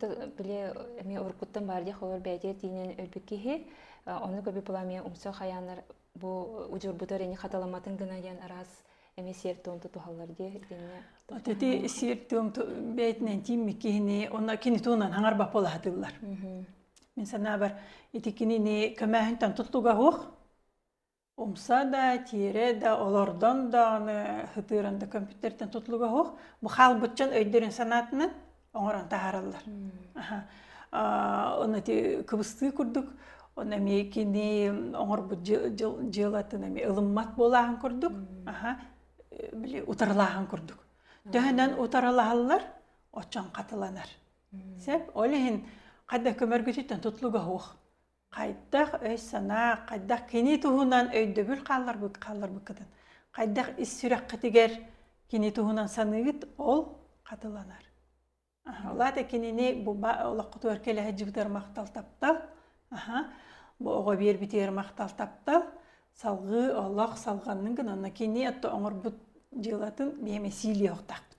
Били эмиэ уруккуттан баар диэх олор бэйэтигэр тиинэн өлбүт киһи ону көрбүт була эмиэ умса хайааннар бу удьурбута эрини хаталаматын гына диэн араас эмиэ сиэр туом тутуһаллар диэ итиннэ ити сиэр туом бэйтинэн тиимми киһини онно кини туунан хаңар баппалаһатыллар мин санаабар ити кинини көмөһүнтэн туттуга хуох Умса да, тиэрэ да, олордон да аны сытыыран да көмпүүтэртэн тутулуга суох бу хаалбыччан өйдөрүн санаатынан оҥорон таһаараллар. Аны ити кыбыстыы курдук ону эмиэ кини оҥорбут дьыалатын эмиэ ылыммат буолааһын курдук били утарылааһын курдук. Төһөнөн утарылаһаллар, оччон хатыланар. Сөп. Ол иһин хата көмөргүтүттэн тутулуга суох. хайдах өй-санаа, хайдах кини туһунан өйдөбүл хаалларбыт хаалларбыккытын, хайдах ис сүрэххитигэр кини туһунан саныыгыт, ол хатыланар. Улаата кинини буба олоххутугар келе сылдьыбытыгар махтал таптал, аха, бу оҕо биэрбитигэр махтал таптал, салгыы олох салганнын гынан, онно кини отту оҥорбут дьыалатын бэйэм эсиилиэ охтахпыт.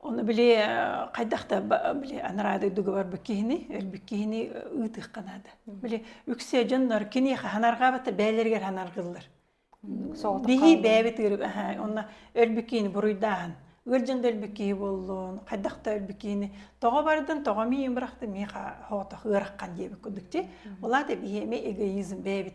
Оны били хайдах да били анараа дойдуга барбыт киһини, өлбүт киһини ыытыахха наада. Били үксэ дьоннор киниэхэ ханарҕаабата бээлэригэр ханаргыллар. Бихи бээбит ыырып, онно өлбүт киһини буруйдааһын. Ыыржын да өлбүт киһи боллун, хайдах да өлбүт киһини тоҕо бардын, тоҕо миин бырахты, миха хоотох ыараххан диэбит кудукчи. Олаата бихи эми эгоизм бээбит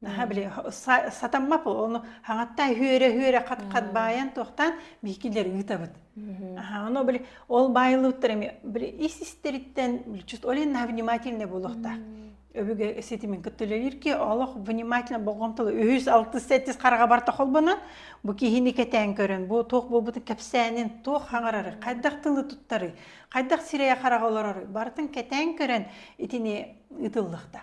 наха били сатаммап ону хаҥатта үһүөрэ үһүөрэ хат хат баайан туохтаан биикилер ыытабыт ано били ол баайлыыттар эми били ис истэриттэн чут олен наха внимательно буолуохтаах өбүгэ ситимин кыттылелир ки олох внимательно болғомталы үһүс алтыс сәттис қараға барта холбонан бу киһини кэтээн көрөн бу туох буолбутун кэпсээнин туох хаңарары хайдах тылы туттары хайдах сирэйе хараға олорору бартын кэтээн көрөн итини ытыллыхта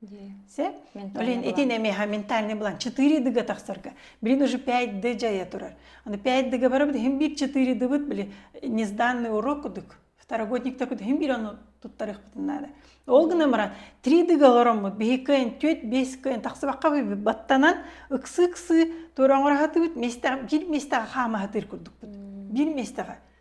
Блин итин эмиэхэ ментальный блан четыре дыга тахсарга блин уже пять ды жайа турар аны пять дыга барабыт иһин бир четыре дыбыт блин незданный урок кудук второгодник такут иһин бир ону туттарыахпытын наада ол гына мара три дыга олороммут биһиккен түт бескен тахсыбакка баттанан ыксы ыксы туораңырахатыбыт местеҕи бир местеҕи хаамаһатыыр курдукпут бир местеҕи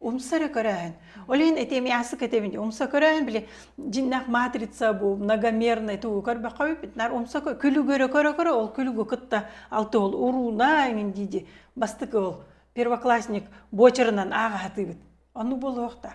Умса эрэ көрөөһүн. Ол иһин ити эмиэ ааспыт кэтэбин умса көрөөһүн били дьиннэх матрица бу многомерный туу көрбөххө бүппүт нар умса күлүгөрө көрө көрө ол күлүгү кытта алты ол урууна эҥин диди бастык ол первоклассник бочерынан ааҕа хатыыбыт. Ону булуохта.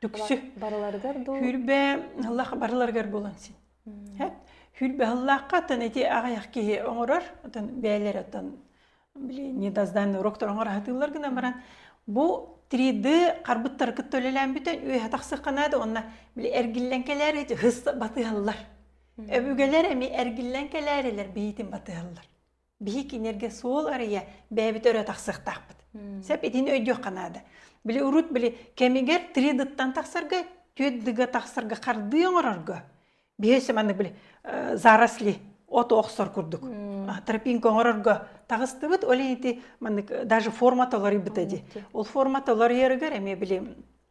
Түксү. Барыларыгар дуу? Хүрбэ ыллах барыларыгар булан син. Хэт хүрбэ ыллахха атын эти аҕаяқ киһи оҥорор, отон бээлер отон блин недоздание уроктор оҥораһатыылар гына баран бу 3D харбыттары кытта үлэлээн бүтэн үөһэ тахсыкканаады онно били эргиллэн кэлээр эти хыс батыһаллар. Өбүгэлэр эми эргиллэн кэлээрилэр биитин батыһаллар. Биһи кинилэргэ суол арыйа бэйэбит өрө тахсыахтаахпыт. Сеп итин өйдүөххэ наада. Били урут били кэмигэр тридыттан тахсарга, түөддыга тахсарга хардыы оҥорорго биһи сэманнык били заросли от охсор курдук тропинка оҥорорго таҕыстыбыт ол ити маннык даже форма толоруйбута ди ол форма толоруйарыгар эмиэ били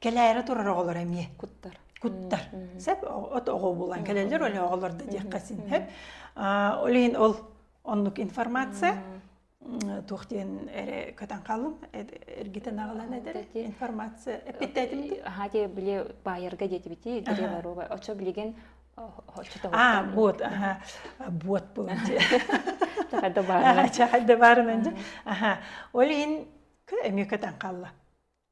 кэлээри турар оҕолор эмиэ куттар куттар сеп от оҕо булан кэлэллэр оле оҕолор да диэххэ син хеп олин ол оннук информация туох диэн эре көтөн қалым эргитен агалан эдер информация эппиттетимти аха те биле баайарга диэтибити дире барова очо билеген а вот аха вот бұл чахайда барынан чахайда барынан аха олин эмиэ көтөн қалла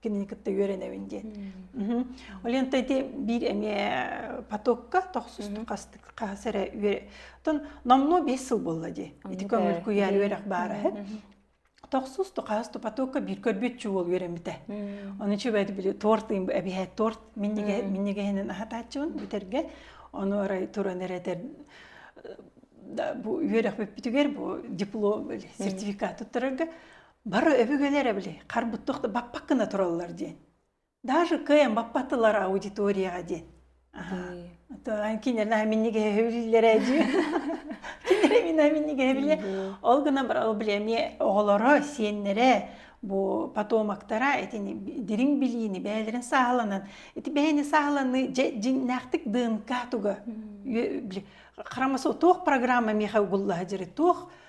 кинини кытта үөрэнэбин диэн. Олента ити биир эмиэ потокка тохсустук хастык эрэ үөрэ. номно бес сыл булла ди. Ити көңүл куйаар үөрэх баарыһы. Тохсусту хасту потокка бир көрбүт чуол үөрэммите. Оны чүбэт били торт эбиһэ торт миннигehенин ахатачуун бүтерге. Оны орай туран эретер бу үөрэх бүппүтүгэр бу диплом сертификат туттарарга бары өбүгэлэр били харбыт тохто баппак гына тураллар диэн даже кыайан баппаттылар аудиторияға диэн кинилэр миннигэһэбиллэрэ дии кинилэр миннигэһэбиллэ ол гына бар били эмиэ оҕолоро сиэннэрэ бу потомоктара этини дириҥ билиини бээлэрин сааланан ити бэйэни сааланы дьиннээхтик днк туга били харамаса туох программа миха угуллаха диры туох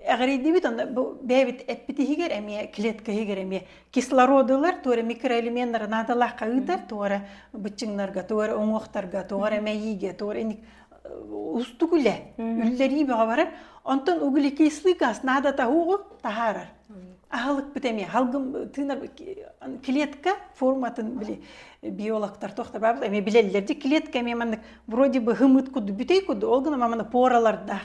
Эҕирийдибит онно бэйэбит эппит иһигэр эмиэ клетка иһигэр эмиэ кислородулар туора микроэлеменнары наадалаахха ыытар туора быччыҥнарга туора уҥуохтарга туора эмэйиигэ туора эник устук үлэ үллэрии бөҕө барар онтон углекислый газ наада таһуугу таһаарар аһылыкпыт эмиэ халгым тыынар клетка форматын били биологтар тохтор баабыт эмиэ билэллэр дьи клетка эмиэ маннык вроде бы хымыт куду бүтей куду ол гына маманы поралардаах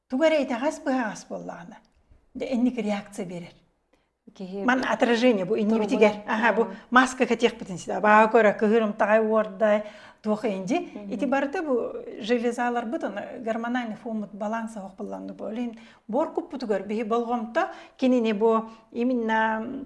тугу эрэ итэҕэс-быһаҕас буоллаҕына инник реакция берер киһи ман отражение бу иннибитигэр аха бу маска кэтиэхпитин сита баҕа көрө кыһырымтаҕай уордай туох инди ити барыта бу железаларбыт аны гормональный фомут баланса ох булланны бу олин бор куппутугар биһи болҕомто кинини бу именно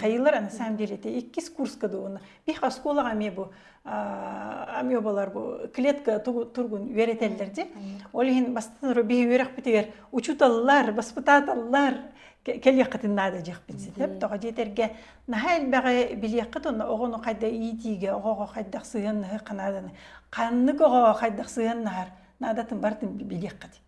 хайылар на самом деле это иккис курс кадуына бих оскуолага ами бу ами обалар бу клетка тургун үөрэтеллер ди ол иһин бастатыр бих үөрөхпүтүгэр учуталлар баспытаталлар кэлиэххитин наада дьехпин ситеп тоҕо диэтерге наһаа элбэҕи билиэххит онно оҕону хайда иитиигэ оҕоҕо хайдах сыһыаннаһы канааданы ханнык оҕоҕо хайдах сыһыаннаһар наадатын бартын билиэххит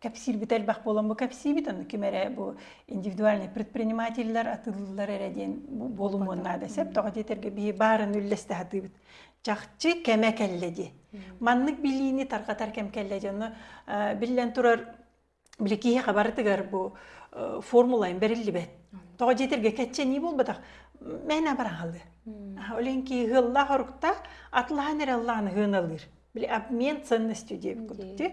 кэпсиирбит элбэх буолан бу кэпсиибит ону ким эрэ бу индивидуальный предпринимателлэр атыылыыллар эрэ диэн буолумуон наада сөп тоҕо диэтэргэ биһи баарын үллэстэ сатыыбыт чахчы кэмэ кэллэ ди маннык билиини тарҕатар кэм кэллэ ди ону биллэн турар били киһиэхэ барытыгар бу формула бэриллибэт тоҕо диэтэргэ кэччэнии буолбатах мээнэ абараҥалыы олен ки ыһыллаах оруктаах атлаһан эрэ ыллаан ыһыыналыыр били обмен ценностью диэбит курдук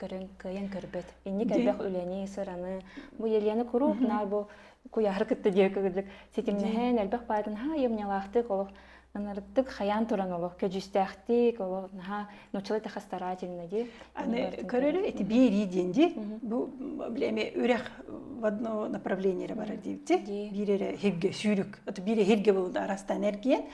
көрөн кыайан көрбөт инник элбэх үлэни сыраны бу елены куруук наар бу куйаары кытта диэки кыдык ситимнэһэн элбэх баайдын ха айымньалаахтык олох ынырыктык хайаан туран олох көдьүүстээхтик олох наһаа нуччала тэха старательно ди аны көрөлө эти биэрии диэн ди бу билэми үрэх в одно направление барар диибти биирэрэ хирге сүүрүк ото биире хирге болуда араста энергия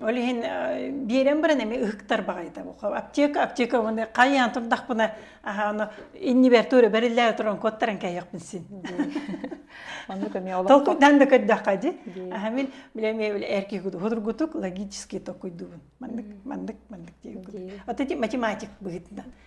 Ол иһин биэрэн баран эми ыһыктар баҕайыта аптека аптекабыны хайаан турдахпына аһааны иннибэр туора бэриллээ туран куоттаран кэйиэхпин син маннык эмиэ толкуйдан да көрдөххө ди аха мин биле эмиэ эрки худургутук логический токуйдубун маннык маннык маннык диэбит математик быһыттан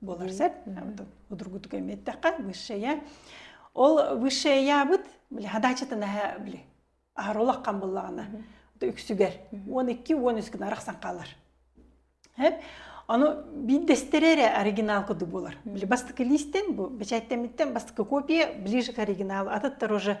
буолар сөп удругутук эмиэттэххэ высшая ол высшаябыт били хадачатынаха били аһаролаққан буллаҕына үксүгэр он икки он үскүн арахсан хаалар аны биирдэстэрэ эрэ оригинал курдук буолар били бастакы листен бу бэчээттэмиттэн бастакы копия ближе к оригиналу атыттар уже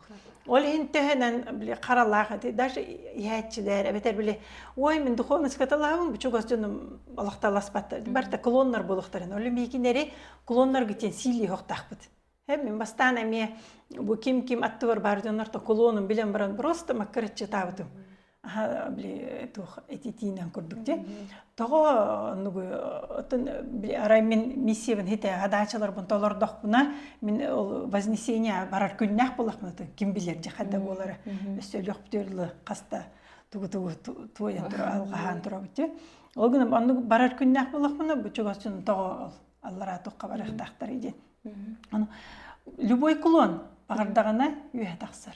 Ол иһин төһөнөн били харалаах эти даже иһээччилэр эбэтэр били ой мин духовнуската лаабын бучугас дьонум олохталаспаттар барта клоннар буолуохтарын олю миикинери клоннарга тиен силии хохтахпыт эм мин бастаан эмиэ бу ким ким аттыбар бар дьоннор то клонум билен баран просто маккырыччытаабытым били туох этитиинен курдук де тоҕо нугу оттон арай мин миссиябын хите хадаачыларбын толордохпуна мин ол вознесение барар күннээх булахмын ким билер же хадда буолара өссөлүөхптүрлы хаста тугу-тугу туойан тура алҕаһаан турабыт ол гынан оннук барар күннээх булахмына бу чугасчын тоҕо аллараа тухха барыахтаахтар иден любой клон баҕардаҕына үһэ тахсар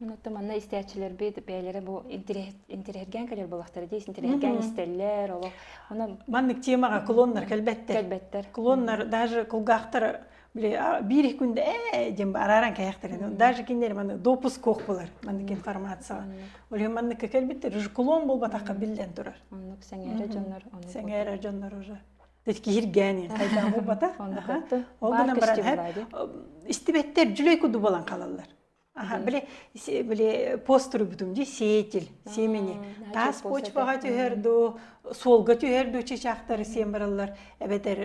Онуттан манна истээччилэрбит бэйэлэрэ бу интириэһиргээн кэлэр буолахтара диэс интириэһиргээн истэллэр олох оно маннык темаҕа клоннар кэлбэттэр кэлбэттэр клоннар даже кулгаахтар били биир их күндэ ээ диэн арааран кээхтэр даже кинилэр маны допуск кох булар маннык информацияға олиһин манныкка кэлбиттер уже клон болбатахха биллэн турар оннук сэңээрэ дьоннор сэңээрэ дьоннор уже киһиргээнин хайдаа болбата ол гынан баран истибэттэр жүлөй куду болан қалаллар били били постуруйбутум дии сеятель семени таас почваҕа түһэр дуу суолга түһэр дуу чычаахтары сиэн бараллар эбэтэр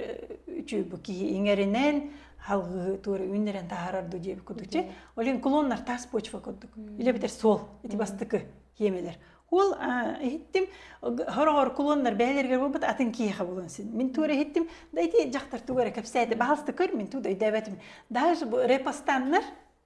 үчү бу киһи иҥэринэн халгыы туора үүннэрэн таһаарар дуу диэбит кутучу олин клоннар таас почва курдук илэ битэр суол ити бастыкы киемелер ол иһиттим хороҕор клоннар бэһэлэргэр буолбут атын киһиэхэ булан син мин туора иһиттим да ити дьахтар тугу эрэ кэпсээтэ баһалты көр мин ту дойдообэтим даже репостаннар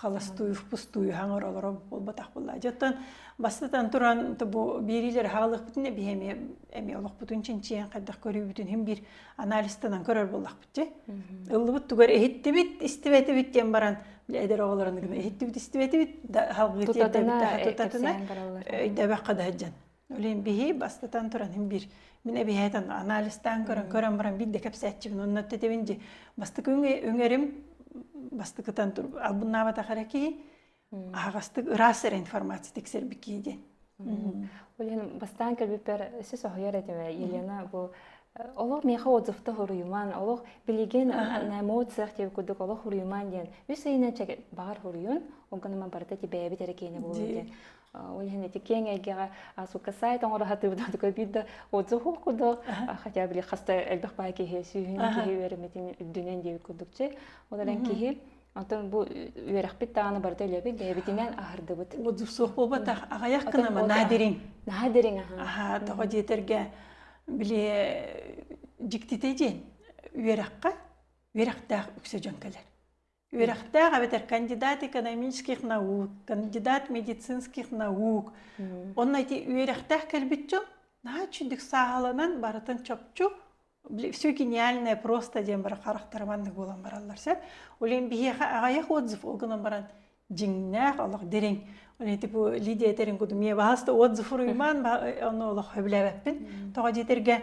халастуйух-пустуйуһаҥ олоро буолбатах буолла. Дьоттон бастатан туран бу биэриилэр хаалыахпытын эбии эми эми олохпутун чинчиэн хайдах көрүүбүтүн хим бир анализтанан көрөр боллахпыт же. Ыллыбыт тугар эһиттибит, истибэтибит диэн баран эдер оҕолорун гына эһиттибит, истибэтибит да халгыыр тутатына өйдөбөккө да Үлэн биһи бастатан туран бир мин эбиһэтен анализтаан көрөн көрөн баран бир да кэпсээтчибин онно тетебин же бастыкы өңөрүм бастыкытан тур албыннаабатах эрэ киһи аһагастык ыраас эрэ информация тиксербики диэн Олен бастаан көрбүппэр өсө соһуйар этиме Елена бу олох меха отзывта хуруйуман олох билеген эмоциях деп кудук олох хуруйуман диэн үс ыйынан чеге багар хуруйун онгонома барыта ти бэйэбит эрэ кене булун диэн Ол иһин ити киэҥ эйгэҕэ суукка сайт оҥоро сатыыбытын только биир да отзыв курдук хотя бы хаста элбэх баай киһи сүүһүнэн киһи үөрэммитин үрдүнэн диэбит курдук чэй ол эрэн киһи Онтон бу үөрэхпит дааны барыта үлэбит бэйэбитинэн аһардыбыт. Отзыв суох буолбатах аҕайах кынама наадирин. Наадирин аха. Аха тоҕо диэтэргэ били дьиктите диэн үөрэххэ үөрэхтээх үксэ дьон кэлэр. Үөрэхтээх эбэтэр кандидат экономических наук, кандидат медицинских наук. Онно ити үөрэхтээх кэлбит дьон наһаа үчүгдүк сааһыланан барытын чопчу все гениальное просто диэн бары харахтара маннык буолан бараллар сөп. Олен биһиэхэ аҕайах отзыв ол гынан баран дьиҥнээх олох дириҥ. Олен ити бу Лидия этэрин кудумия баһаста отзыф уруймаан ону олох хөбүлээбэппин. Тоҕо диэтэргэ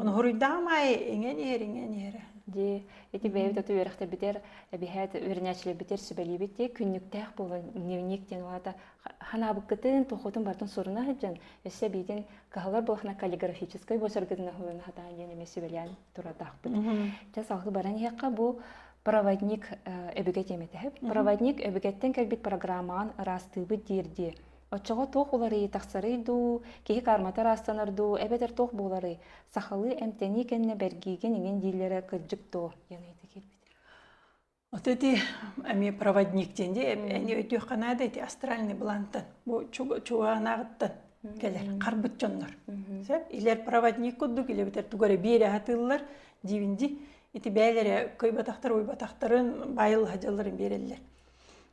Онуһуруйдаҕым аайы иҥэн иһэр, иҥэн иһэрэ. Дии, ити бэйэбит оту үөрэхтэрбитэр, эбиһээт үөрэнээччилэрбитэр сүбэлиибит тиэ күннүктээх буолан дневник диэн улаата ханаабыккытын туохутун бартын суруна сылдьан өссө биитин каһалар буолахна каллиграфической босоргытын оһулана хатаан диэн эмэ сүбэлээн туратаахпыт. Дьэ саалты баран иһэхха бу проводник э, өбүгэ тиэмэтэ. Проводник өбүгэттэн кэлбит программаҕын ыраастыыбыт диирдии Оччоҕо туох уларыйыы тахсарый дуу, киһи кармата ыраастанар дуу, эбэтэр туох буоларый? Сахалыы эмтэнии кэннэ бэргиигин иҥин дииллэрэ кырдьык дуо? диэн ыйыта киирбит. Вот эти эмиэ проводник диэн дии эмиэ өйдүөххэ наада эти астральный блантан бу чугаанааҕыттан кэлэр харбыт дьоннор сөп илэр проводник курдук илэ бүтэр тугу эрэ биэрэ сатыыллар диибин ди ити бээлэрэ кыйбатахтар уйбатахтарын баайылла сылдьалларын биэрэллэр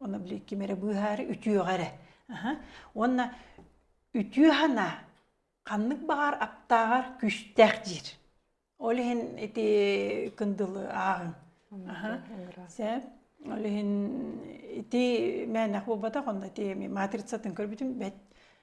Оны били ким эрэ быыһаары үтүөҕэ эрэ. Уонна үтүө санаа ханнык баҕар аптааҕар күүстээх диир. Ол иһин ити кындылы ааҕыҥ. Сэ ол иһин ити мээнэх буолбатах онно ити матрицатын көрбүтүм бэт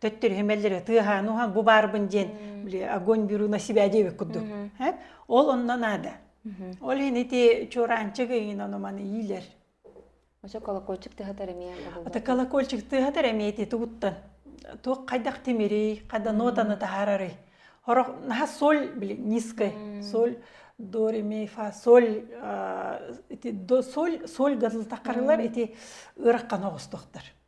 төттөрү химэллэри тыаһаан уһан бу баарбын диэн били огонь беру на себя диэбит курдук ол онно наада ол ини ити чуораанчык иин ону маны иилэр Оша колокольчик тыхатар эмиэ Ата колокольчик тыхатар эмиэ ити тугуттан туох хайдах тимири хада нотаны таһарары хорох наха соль били низкой соль до ре ми фа соль ити до соль соль гадыл такарылар ити ыраккан оҕустуктар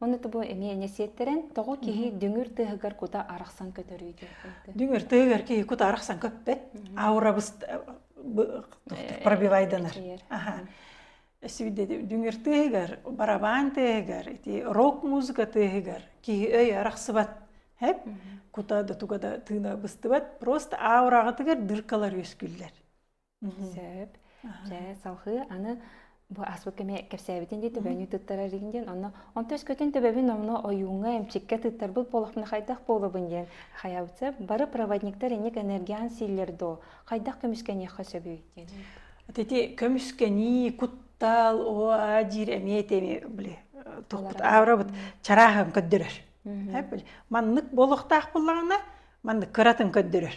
Оны тобу эни-эне сиеттерен, тоҕо киһи дүңүр тыһыгар кута арахсан көтөрүй диэхтейді. Дүңүр тыһыгар киһи кута арахсан көппөт, аурабыст пробивайданар. Дүңүр тыһыгар, барабан тыһыгар, рок-музыка тыһыгар киһи өй арахсыбат. Хэп, кута да туга да тыына быстыбат, просто аурагытыгар дыркалар өскүллер. сөп дьэ салҕыы аны бу аспыт кэми кэпсээбитин дии төбөнү тыттарарыгын диэн онно он төскөтүн төбөбүн онно ойууҥҥа эмчиккэ тыттарбыт буолахпына хайдах буолабын диэн хайабытса бары проводниктар инник энергиан силлер доо хайдах көмүскэниэххэ сөбүй диэн ити көмүскэнии куттал оа диир эмиэ теми били тохпут аурабыт чарааһын көрдөрөр маннык болуохтаах буллаҕына маннык кыратын көрдөрөр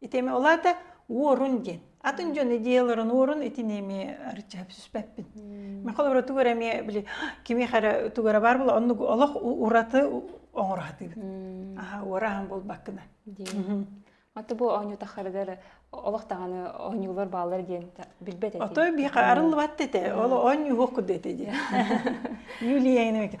итими олаата уорун диэн атын дьон идеяларын уорун итини эми арча сүспеппин махал ура тугар эми били кими хара тугара бар була оннук олох ураты оңорхатыыбыт аха уорахан болбаккына Аты бу оонньутахардар олох тағаны оонньуулар баалар диэн билбет эти. Отой би арыллыбат эте, ол оонньуух куддет эти. Юлия эне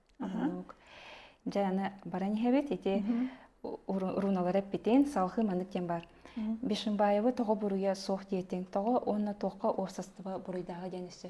Дьэ аны баран иһэбит ити уруналары эппитин салхыы маннык диэн баар Бишимбаевы тоҕо буруйа суох диэтин тоҕо уонна туохха уопсастыба буруйдааҕа диэн өссө